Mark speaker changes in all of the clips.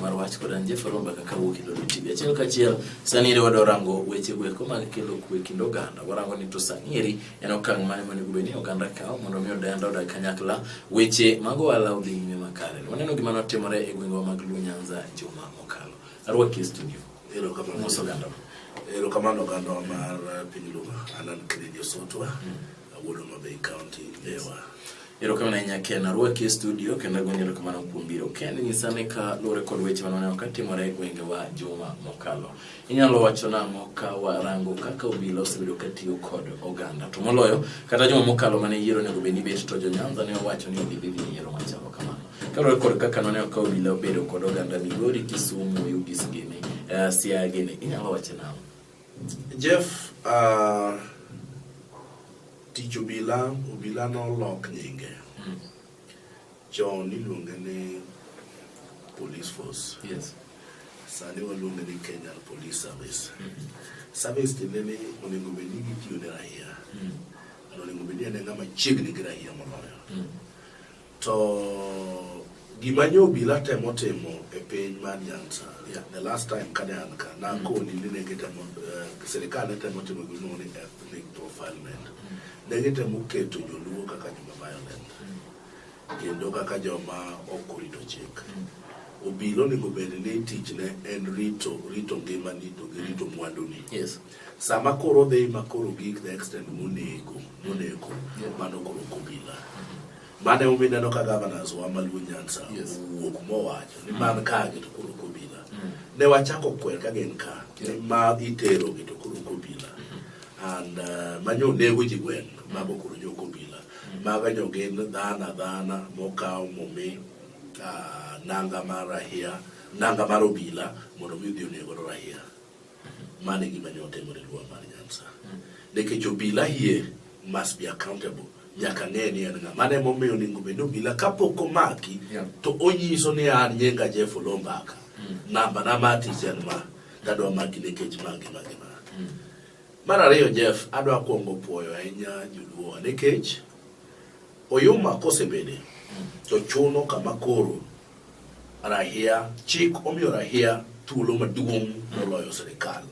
Speaker 1: mar wach kod an Jeff Aromba kaka wuok e Lolo TV. Achiel kachiel sani ere wadwa rango weche go eko mag kelo kwe e kind oganda. Warango ni to sani eri en okang' mane monego bed ni oganda kawo mondo mi odenda odag kanyakla weche mag ohala odhi nyime makare. Waneno gima notimore e gwengwa mag Luo Nyanza juma mokalo. Arwaki e studio. Ero kama mos oganda. Ero kama oganda mar eh, piny Luo Alan Kennedy Osotwa. Mm. Awuodo Mabei County. Ewa. Erokamano ahinya Ken, arwaki e studio kendo agoni erokamano kuom biro. Ken, nyisa ane ka luwore kod weche mane waneno katimore e gwengewa juma mokalo. Inyalo wacho nang'o ka warango kaka obila osebedo katiyo kod oganda to moloyo kata juma mokalo mane yiero onego bed ni bet to jo Nyanza ne owacho ni gidhi dhi e yiero machalo kamano. Kaluwore kod kaka noneno ka obila obedo kod oganda Migori, Kisumu, Ugis gini, uh, Siaya gini, inyalo wacho nang'o? Jeff, uh, tich obila, obila nolok nyinge. Mm. Chon iluonge ni police force. Yes. Sani waluonge ni Kenya Police Service. Mm -hmm. Service tiende ni onego bed ni gitiyo ne raia. Mm. Onego bed ni en ng'ama chiegni gi raia moloyo. Mm. To gima nyo obila temo timo e piny mar Nyanza, yeah, the last time kane an ka nakoni mm. ni ne gitemo uh, sirikal ne temo timo gimiluongo ni ethnic profilement. Mm. Ne gitemo keto joluo kaka joma violent mm. kendo kaka joma ok orito chik. Obila onego bed ni tichne en rito rito ngimani to gi rito mwanduni. Yes. Sama koro odhi ma koro gik the extent monego monego mano koro kobila mane umi neno ka governors wa maluo nyansa owuok mowacho ni man ka gi to koro kobila mm. ne wachako kwer ka gin ka ni ma itero gi to koro kobila mm-hmm. and uh, manyo nego ji gweng mago koro jo kobila mm. maga nyo gin dhana dhana mokaw momi uh, nanga mar rahia nanga mar obila mondo mi odhi onego rahia Mano e gima nyo otimore e Luo mar Nyanza. Nikech obila here must be accountable. Nyaka ng'e ni en ng'a. Mano emomiyo onego bed ni obila kapok omaki Yeah. to onyiso ni an nyinga Jeff Olombaka. Namba na ma tich en ma. Tadwa maki nikech ma gi ma gi ma. Mar ariyo Jeff, adwa kuongo puoyo ahinya joluo nikech oyuma kosebede to chuno kama koro Rahia, Chik omiyo rahia thuolo maduong' moloyo sirikal.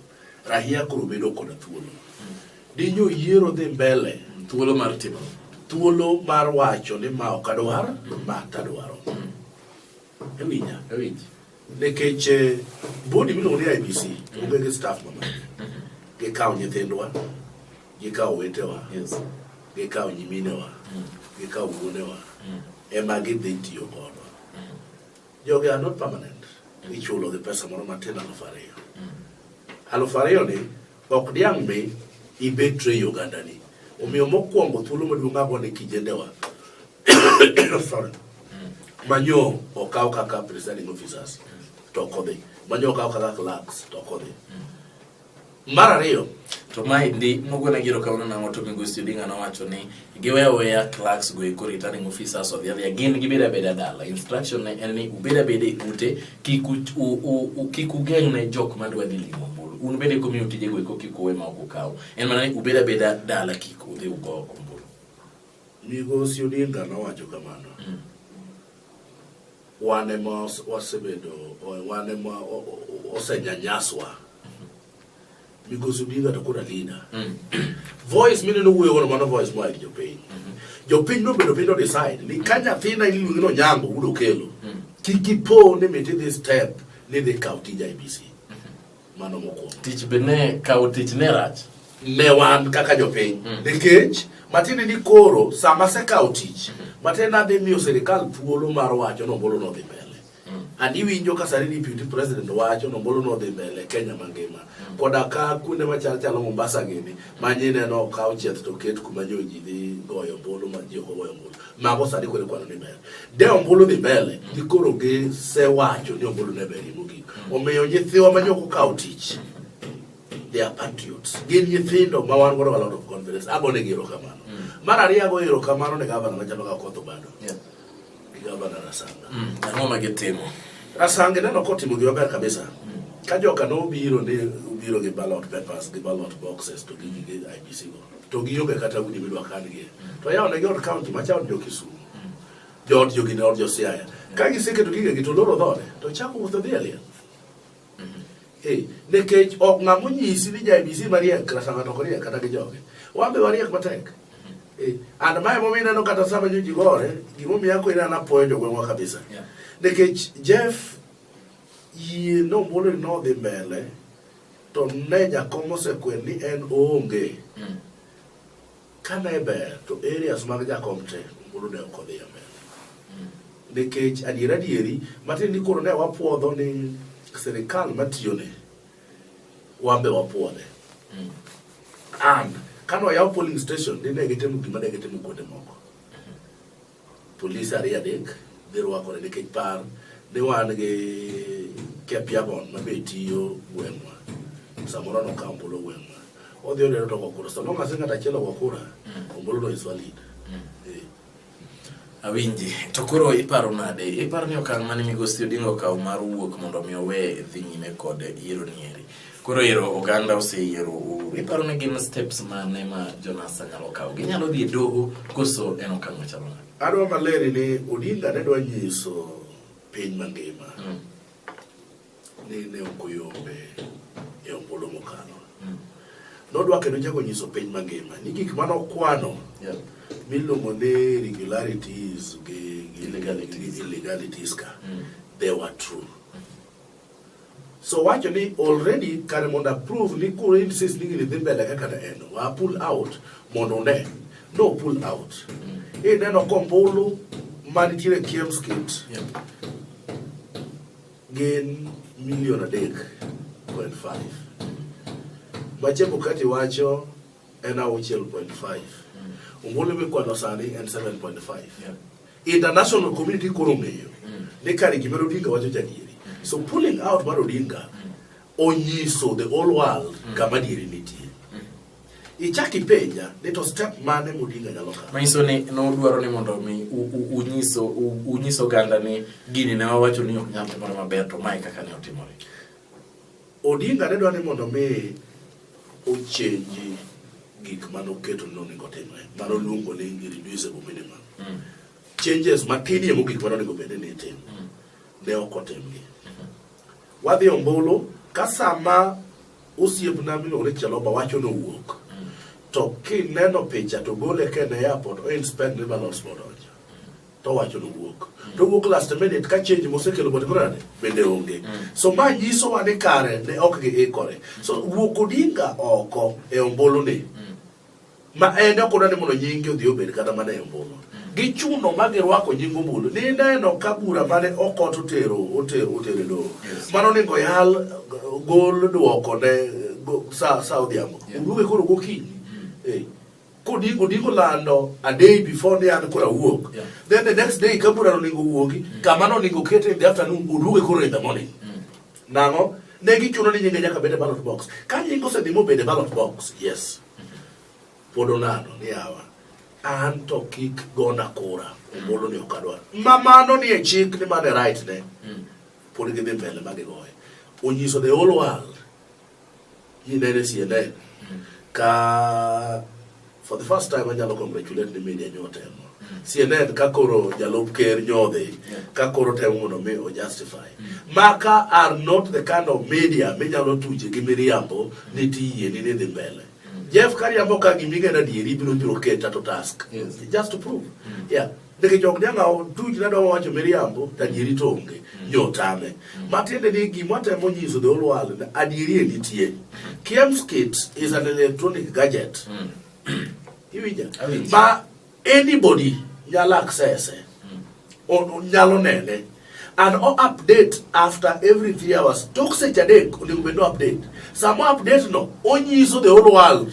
Speaker 1: Rahia koro bedo koda thuolo. Dinyo yiero dhi mbele. Thuolo mar timo. Thuolo mar wacho ni ma ok adwar, ma tadwaro. Ewinja? Ewinji. Nikech eh, bodi miluongo ni IBC, onge gi staff mamani. Gikawo nyithindwa, gikawo wetewa yes. gikawo nyiminewa mm. gikawo wuonewa mm. ema gidhi tiyo kodwa mm. jogi are not permanent mm. ichulo gi pesa moro matin aluf ariyo mm. aluf ariyo ni ok diang' mi ibetre i ogandani omiyo mokwongo thuolo maduong' ago ni kijendewa sorry mm. manyo okaw kaka presiding officers mm. to kodhi manyo okaw kaka clerks to kodhi mm. Mar ariyo, to maendi mogwen agiero kawuono nang'o to migosi Odinga nowacho ni giweyo weya clerks go eko returning officers odhi adhiya gin gibed abeda dala instruction ne en ni ubed abeda e ute kik ugeng' ne jok madwa dhi limo ombulu un bende komiyo tije go eko kik uwe ma ok ukaw en mana ni ubed abeda dala kik udhi ugo ombulu migosi Odinga nowacho kamano mm. Wan ema wasebedo, wan ema osenyanyaswa. Migosi Odinga to koro alina. Mm. Voice mineno wuoyo godo mano voice moa ir jopiny. Mm-hmm. Jopiny nobedo piny to decide ni ka nyathina iluongi nonyango wudo kelo. Mm. Kik ipo ni miti dhi step ni dhi kaw tij IBC. Mano mokwongo. Tich be ne kawo tich ne rach. Ne wan kaka jopiny. Mm. Nikech matiende ni koro sama asekawo tich, mm. matiende adhi miyo sirikal thuolo mar wacho nombolo nodhi mbele. Mm. Ani winjo ka sani deputy president wacho nombolo nodhi mbele Kenya mangima. Mm. Koda ka kuonde machal chalo Mombasa gini, manye neno okaw chieth to ket kuma joji dhi goyo ombulu ma ji ok ogoyo ombulu. mago sani koro ikwano ni ber de ombulu dhi mbele gikoro gisewacho ni ombulu ne berie mogik omiyo nyithiwa ma jok okawo tich they are patriots gin nyithindo ma wan godo a lot of confidence agonegi erokamano mar ariyo ago erokamano ne gavana machalo ka koth obado Yeah. gi gavana rasanga Mm. Ang'o ma gitimo? rasanga ineno kotimo gima ber kabisa ka joka nobiro ni obiro gi ballot papers gi ballot boxes to gi gige ibc go to gionge kata udi midwa kangie to yawonegi od kaunti macha od jokisumu jood jogi ne od josiaya ka giseketo gigegi to loro dhode to chako wuotho dhi aliel Eh, nikech ok ng'a monyisi ni jaibisi mariek kata ng'ato ok riek kata gi joge wan be wariek matek Eh, and mae momiyo ineno kata sama joji gore gimomiyo ako ineno apoyo jogweng'wa kabisa Yeah. nikech jeff yie nombolo ni nodhi mbele To ne jakom osekwer ni en oonge. Mm. Ka ne ber to areas mag jakom te mulu ne ok odhi amen. Mm. Nikech adier adieri matin ni koro ne wapuodho ni sirikal matiyone wambe wapuodhe. Mm. And kano yaw polling station ni ne gitemo gima ne gitemo kuonde moko. Polis ariyo adek ne rwakore nikech par ni wan gi Kepiagon ma be tiyo gweng'wa samoro nokawo ombulu gweng'wa odhi oneno to wakura so long as ng'at achiel wakura mm. ombulu no is valid mm. eh. awinji to koro iparo nade iparo ni okang' mane migosi odingo okawo mar wuok mondo mi owe dhi nyime kod yiero nieri Koro ero oganda oseyiero Uhuru. Iparo ni gin steps mane ma Jonasa nyalo kawo? Ginyalo dhi e doho koso en okang' machalo nade? Adwa maler ni Odinga ne dwa nyiso piny mangima mm. ni ne ok oyombe e ombulu mokalo. Mm. Nodwa kendo chako nyiso piny mangima ni gik mane okwano yeah. miluongo ni irregularities gi illegalities ka mm. they were true. So wacho ni already kare mondo approve ni kuro insist ni gini dhi mbele kaka ne en wa pull out mondo une no pull out ineno kombulu manitiere Kiems Kit gin milion adek point five ma Chebukati wacho en auchiel point five ombulu mikwano sani en seven point five International community koro ng'eyo ni kare gima Odinga wacho jadieri. So pulling out mar Odinga onyiso the whole world kama dieri nitie. Ichaki penja ni to step mane Odinga nyalo kawo. Manyiso ni nodwaro ni mondo mi unyiso unyiso ganda ni gini ne wawacho ni ok nyal timore maber to mae kaka ne otimore. Odinga ne dwa ni mondo mi ochenji gik mane oketo ni onego otimre mane oluongo ni irreducible minimum mm. changes matinie mogik mane onego bede ni itimo mm. ne ok otimgi wadhi ombulu ka sama osiepna miluongo ni Jaloba wacho ni owuok mm. to kineno picha to gole kende airport o inspect ni balance modonjo to wacho ni wuok to wuok last minute ka change mosekelo body brand bende onge mm. so ma nyiso wa ni kare ne ok gi ikore so wuok odinga oko e ombulu ni mm. ma en ok odwa ni mondo nyingi odhi obed kata mana e ombulu mm. gichuno ma girwako nying ombulu ni neno ka bura mane okot otero otero otero e doho mano ningo yal gol dwoko ne sa sa odhiambo oduoge koro gokinyi eh. Kodiko diko lando a day before ni an kora wuok. Yeah. Then the next day kabura oningo wuogi, mm. kama no ningo kete in the afternoon uduoge koro in the morning. Mm. Nango, ne gichuno ni nyinge nyaka bede ballot box. Ka nyingo se dimo bede ballot box, yes. Mm -hmm. Podo nado ni awa. An to kik gona kura. Mm. Omolo ni okadwa. Mamano ni e chik ni mane right ne. Mm. Podi gidhi mbele magigoye. Onyiso the whole world. Ji nene siende ka for the first time anyalo congratulate ni media nyo temo CNN ka koro jalup ker nyodhi ka koro temo mondo mi o justify maka are not the kind of media minyalo tuche gi miriambo ni tiye ni dhi mbele Jeff kariambo ka gimigana dieri biro biro keta to task yes. just to prove yeah nikech ok nyal awo tuj ne dwa wacho miriambo to adieri to onge mm. jo tame mm. matiende ni gima temo nyiso the whole world adieri e nitie kemskit is an electronic gadget mm. iwinja ma anybody nyalo access nyalo nene and o update after every three hours tok seche adek onego bed no update sama update no onyiso the whole world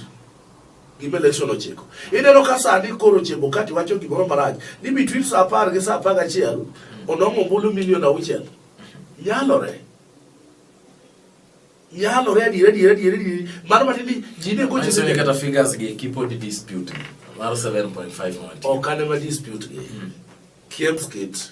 Speaker 1: gima election ochiko. Ineno ka sani koro Chebukati wacho gimoro marach ni between saa apar gi saa apar gachiel onong'o ombulu milion auchiel. Yalore. Yalore adiera adiera adiera adiera. Mano mati ni ji ne gocho Manyiso ni kata figures gi kipod dispute mar 7.5 mondo. Ok ane ma dispute gi. Kiemskit.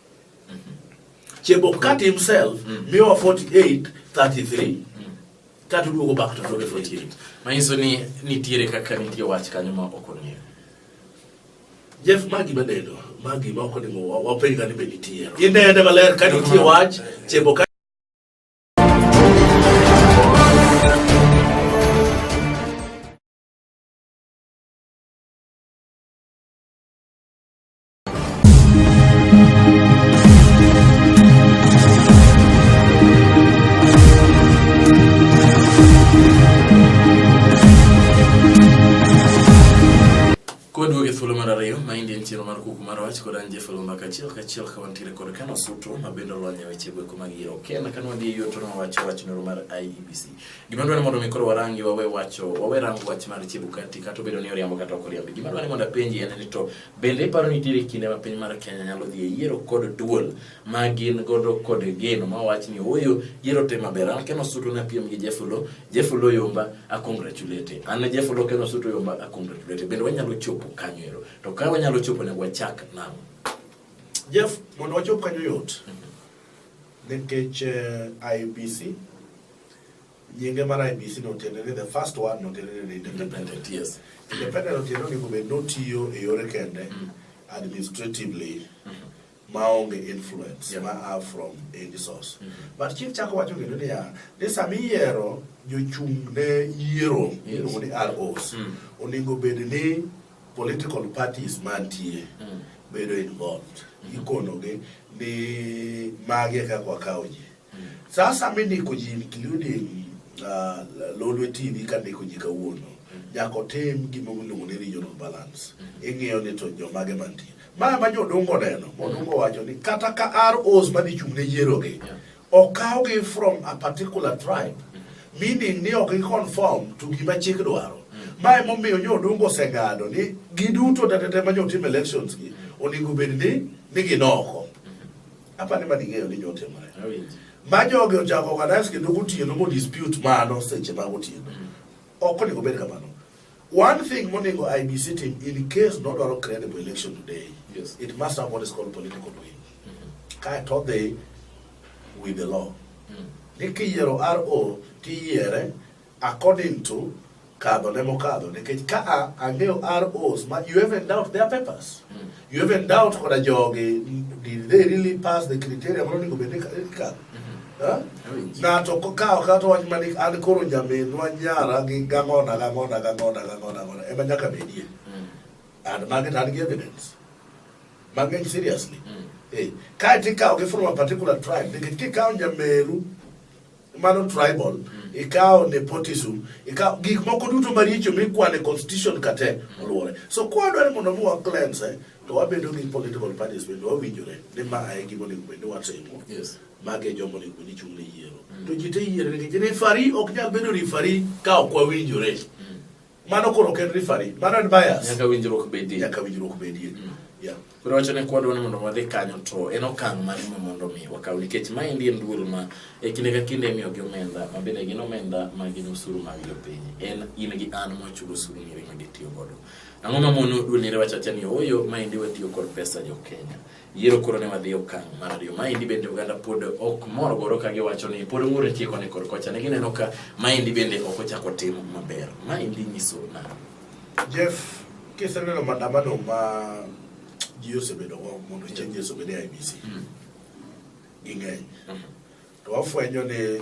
Speaker 1: Chebokati himself, mm. Miwa 48, 33. Kata duogo back to 48. Manyiso ni nitiere kaka nitie wach kanyo ma ok ong'eyo. Jeff magi madedo, magi ma ok onimo wapenj ka ni be nitie. Inene maler ka nitie wach Chebokati Kwadwoge thuolo mar ariyo ma indien chiro mar kuku mar wach kod an Jeff Olumba kachiel kachiel ka wantiere kod Kano Suto ma bende olony e weche gweko mag yiero Kenya ka nwadhi e yoto nowacho wach noro mar IEBC. Gima dwani mondo mi koro warangi wawe wacho wawe rango wach mar Chebukati kata obedo ni oriambo kata ok oriambi. Gima dwani mondo apenji en ni to Bende iparo ni nitiere kinde ma piny mar Kenya nyalo dhi e yiero kod duol ma gin godo kod geno ma wach ni ooyo yiero te maber. An Ken Osuto na piem gi Jefulo, Jefulo Yomba a congratulate. An Jefulo Ken Osuto Yomba a congratulate. Bende wanyalo chopo kanyo ero. To ka wanyalo chopo ne wachak nam. Jeff, mondo wachop kanyo yot. Nikech uh, eh, IBC Nyinge mar IBC no tiende ni the first one no tiende ni independent. Yes. Independent no tiende ni kubed no tiyo e yore kende mm. administratively mm -hmm. maonge influence yeah. ma are from any source. Mm -hmm. But chief chako wacho kendo ni ya ni sama iyiero jochung' ne yiero yes. ni ROs mm. onego bed ni political parties mantie mm. bedo involved. Mm -hmm. Ikonogi ni mage kaka wakawo ji. Sasa mi ndiko ji including uh, Lolwe TV ka ndiko ji kawuono nyaka otim gima iluongo ni regional balance ing'iyo ni to jomage mantie ma ma jodongo neno modongo wacho ni kata ka ROs madhi chung' ne yierogi okawgi from a particular tribe meaning ni ok giconform to gima chik dwaro ma emomiyo jodongo oseng'ado ni giduto tetete ma jotim elections gi onego bed ni ni ginoko Apa ni mani ng'eyo ni nyote mare. Ma jogi ochako organize kendo gotieno mo dispute mano seche ma gotieno. Mm. Ok onego bed kamano. One thing monego IBC team in case not dwaro credible election today. Yes. It must have what is called political will. Mm-hmm. Kae to dhi with the law. Mm. Ni kiyiero RO tiyiere According to kadho ne mokadho nikech ka a ang'eyo ROs ma you even doubt their papers mm. you even doubt koda jogi did they really pass the criteria mano onego bed ni kadho ng'ato kawo kata wach mani an koro nyaminwa nyara gi gang'ona gang'ona gang'ona gang'ona gang'ona ema nyaka bedie mm. and magi to an gi evidence mang'eny seriously mm. eh, kae to ikawo gi from a particular tribe nikech kikawo nyameru mano tribal mm. ikawo nepotism ikawo gik moko duto maricho mikwane constitution kate oluore so kwadware mondo mi wa cleanse eh, to wabedo gi political parties bende wawinjore ni ma e gima onego bende watimo mage jomo onego bende chung' ne yiero mm. to ji te yiero nikech refari ok nyal bedo refari ka ok wawinjore mm. Mano koro ok en referee, mano en bias. Nyaka winjruok bedie. Nyaka winjruok bedie. Mm. Yeah. Koro wacho ne kwadwa ni mondo wadhi kanyo to en okang' mane ma mondo mi wakaw nikech ma endi en duol ma e kinde ka kinde imiyo gi omenda ma bende gin omenda ma gin osuru mag jopiny en in gi an mochulo osuru miri ma gitiyo godo. Ang'o ma mono duol ni rewacho acha ni oyo ma endi watiyo kod pesa jo Kenya. Yiero koro ne wadhi okang' mar ariyo. Maendi bende oganda pod ok mor goro ka giwacho ni pod ng'ur nitie koni kor kocha. Ne gineno ka maendi bende ok ochako timo maber. Maendi nyiso na. Jeff, kiseneno madamano ma ji osebedo go mondo chieng' Yesu obed e IBC. Mm. Ging'eny. Mm. To wafwenyo ni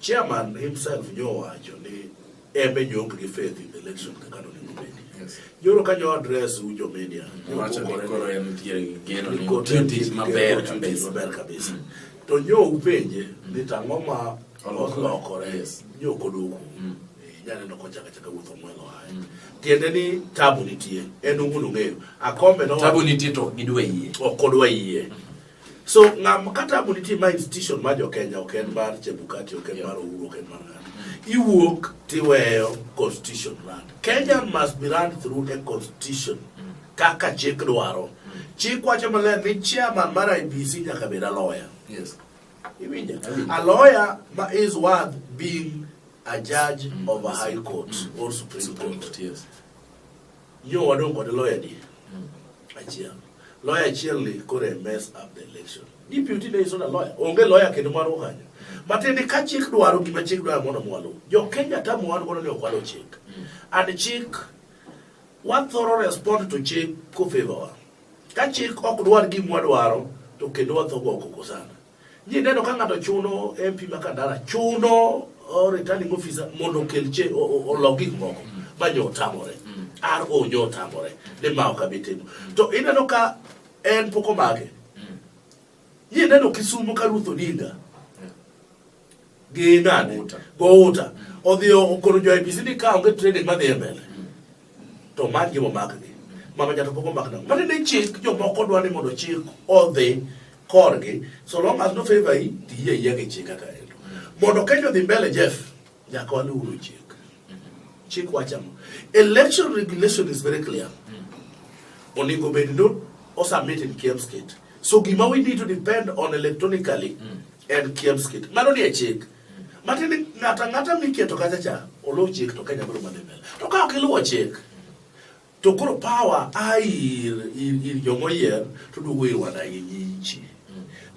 Speaker 1: Chairman himself nyo wacho ni embe jok gi faith in the election kaka no niko bedi. Joro ka nyo address u jo media. Wacho ni koro en tiere geno ni opportunities maber kabisa. Maber kabisa. To nyo upenje ni tang'o ma olokore. Nyo koduku. Mm. Janeno kochaka chaka wuotho mwelo hae. Mm. Tiende ni tabu nitie. En ungunu ng'eyo. Akombe no. Tabu nitie to gidwa yie. Ok odwa yie. Mm. So ngam kata bu nitie ma institution ma jo Kenya ok en mar Chebukati, ok en mar Uhuru, ok en mar ng'ato. Iwuok tiweyo constitution land. Kenya must be run through a constitution kaka chik dwaro. Chik wacho maler ni chairman mar IBC nyaka bed a lawyer. Yes. Iwinja? A lawyer ma is worth being a judge mm. of a high court mm. or supreme court. Yes. Yo wadong' kod loya adi? Achiel. Loya achiel ni kore mess up the election. Deputy ne iso na loya. Onge loya kendo mar ukanyo. Matiende ka chik dwaro gima chik dwaro mondo mwalu. Jo Kenya tamu wan gono ni okwalo chik. And chik what thorough respond to chik ko favor. Ka chik ok dwar gima dwaro to kendo watho go koko sana. Ji neno ka ng'ato chuno MP ma Kandara chuno oh, returning officer mondo okel che olok gik moko ma nyo otamore. RO nyo otamore ni ma ok abi timo. To ineno ka en pok omake. Ji neno Kisumo ka Ruth Odinga gi nani Gouta odhiyo okoro jo IPC ni ka onge training madhi e mbele to mar gi momakgi mama jato pok omak nang'o mane ni chik jomoko dwa ni mondo chik odhi korgi so long as no favor yi tiyie yie gi chik kaka endo mondo Kenya odhi mbele Jeff nyaka waluw chik Chik wacho ang'o? Election regulation is very clear. Onego bed ni osubmit in Kiemskit. So gima we need to depend on electronically en Kiemskit. Mano ni e chik. Matiende ni ng'ato ang'ata miketo kacha cha oluw chik to Kenya biro mana mbele. To ka ok iluwo chik To koro power a ir ir, ir jogo yier to duogo ir wanagi nyichi.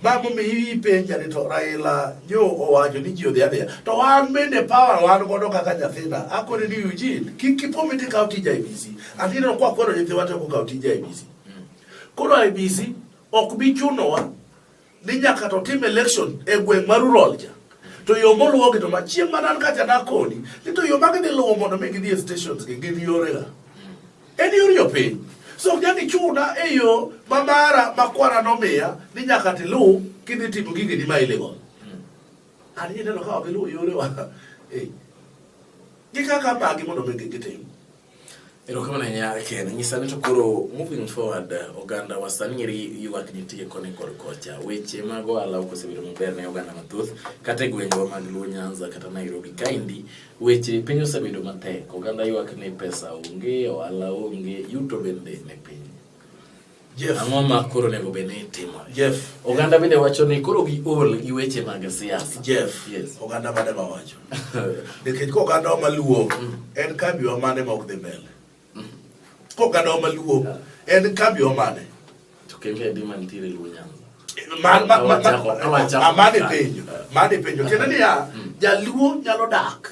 Speaker 1: Ma momiyo ipenja ni to Raila nyo owacho ni ji odhi adhiya. To wan bende power wan godo kaka nyathina. Akoni ni Eugene kik kipomi ti kaw tij IBC. Anino kwa kwero nyithiwa to ko kaw tij IBC. Koro IBC ok bi chunowa ni nyaka to tim election e gweng' mar rural cha to yo moluwogi to machieng' mana an kacha nakoni ni to yo magidhi luwo mondo mi gidhi e stations gi gin yorega en yor yo piny so ok nyaka ichuna e yo ma mara ma kwara nomiya ni nyaka tiluw kidhi timo gigeni ma illegal an ineno ka ok iluw yorewa gi kaka bagi mondo mi gitim erokamano nya ken nyisa ni to koro moving forward oganda wa sani eri ywak nitie koni kod kocha weche mag ohala ok osebedo maber ne oganda mathoth kata e gwengwa mag luo nyanza kata nairobi kaendi weche piny osebedo matek oganda ywak ni pesa onge ohala onge yuto bende ne piny Jeff. Ang'o ma koro onego bed ni itimore? Jeff. Oganda bende wacho ni koro gi ol gi weche mag siasa. Jeff. Yes. Oganda mane ma wacho. Nikech ko oganda ma luo mm. en kambi wa mane ma ok dhi mbele. Mm. Ko oganda ma luo en kambi wa mane. To kende adi mantiere luo nyanza. Amane penjo. Mane penjo. Kendo niya, mm. jaluo nyalo dak.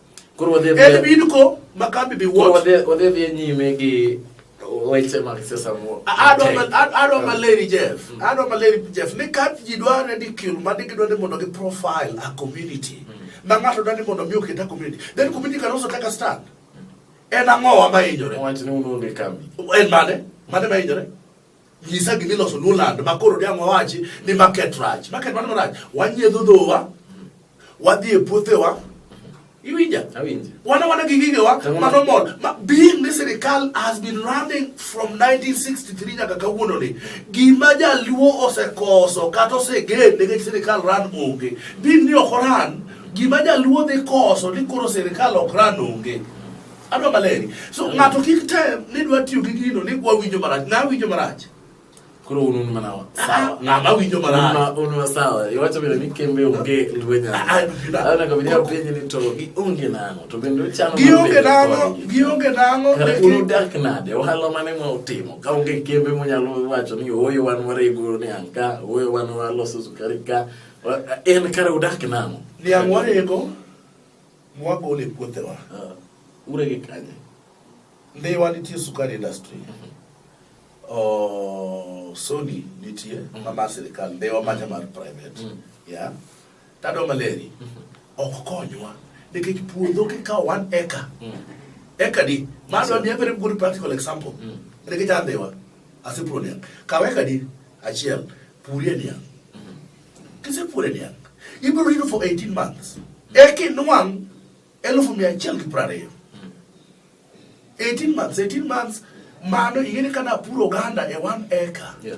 Speaker 1: Koro wadhi dhi. En bin ko makambi bi wuot. Koro wadhi wadhi dhi nyime gi weche mag siasa mo. Adwa adwa maleri Jeff. Mm. Adwa maleri Jeff ni ka ji dware ni kil ma ni gidware mondo gi profile a community. Mm. Ma ng'ato dware mondo mi oketa community. Then community can also take a stand. En ang'o wa ma hinyore? Wach ni unuonge kambi. En mane? Mane ma hinyore? Ngisa gini loso Nuland ma koro diang' wawachi ni market rach. Market mano rach. Wanyiedho dhowa, wadhi e puothewa, iwinja wana wana gi gigewa mano mol ma being ni sirikal has been running from 1963 nyaka kawuononi gima jaluo osekoso kata osegen nikech sirikal ran onge being ni ok oran gima jaluo dhi koso ni koro sirikal ok ran onge Adwa maleri. So ng'ato kik tem ni dwa tiyo gi gino ni kwa winjo marach. Na winjo marach. Koro unu ni manawa. Ah, sawa. Na ma winjo marach. Una unu sawa. Iwacho bila ni kembe unge lwenya. Ah, ah, Ana kabidi ya penye ni to gi unge nango. To bendo chano. Gi unge nango. Gi unge nango. Kare unu dak nade. Ohala mane mwa utimo. Ka unge kembe mwa nyalo wacho ni oyo wan ware iguro ni anka. Oyo wan waloso sukari ka. En kare udak nango. Ni angwarego. Mwagole e puothewa. Uh, urege kanye? Ndhiwa nitie sukari industry. Mm -hmm. Oh, Sony nitie mm -hmm. mama sirikal ndhiwa macha mm-hmm. mar private. Mm -hmm. Yeah. Tado maleri. Mm -hmm. Ok konywa. Nikech puodho kikawo one acre. Mm -hmm. Acre di. Mano yes, ni every good practical example. Mm -hmm. Nikech andhiwa. Asipro niya. Kawe kadi achiel. Purie niya. Kisepuonje niang', ibiro rito for 18 months. Eka inwang' elfu mia achiel gi prariyo. 18 months, 18 months, mano ing'eni ka napuro oganda e one acre. Yeah.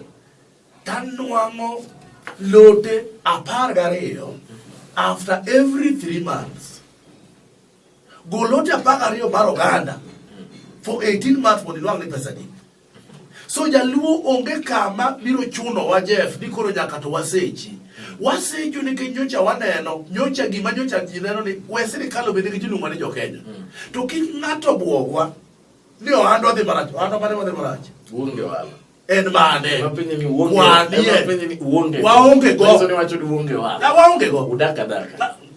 Speaker 1: Tanwang'o lote apar gariyo after every three months. Golote apar gariyo mar oganda for 18 months mondo inwang' ni pesa ni. So jaluo onge kama biro chuno wa Jeff ni koro nyaka to wasechi. Wasecho nikech nyocha waneno, nyocha gima nyocha ji neno ni we sirkal obed gi jilungo ni jokenya. Mm. To kik ng'ato bwogwa ni ohand wadhi marach, ohand mane wadhi marach. Uonge wala. En mane? Wanie. Waonge go. Waonge go. Udak adaka.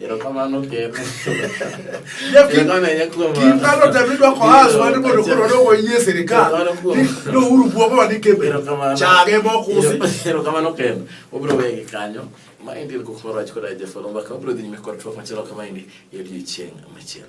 Speaker 1: Erokamano ker. Erokamano ahinya kuom Gin kano tem idwa kohas wan ni mondo koro dogo yie sirikal. Ni uhuru buogo wa ni kembe. Chage mokusi. Erokamano ker. Obiro wegi kanyo. Ma endi ilko kumoro wach koda jafolo mbaka obiro dhi nyime kod twak machielo kama endi e odiechieng' machielo.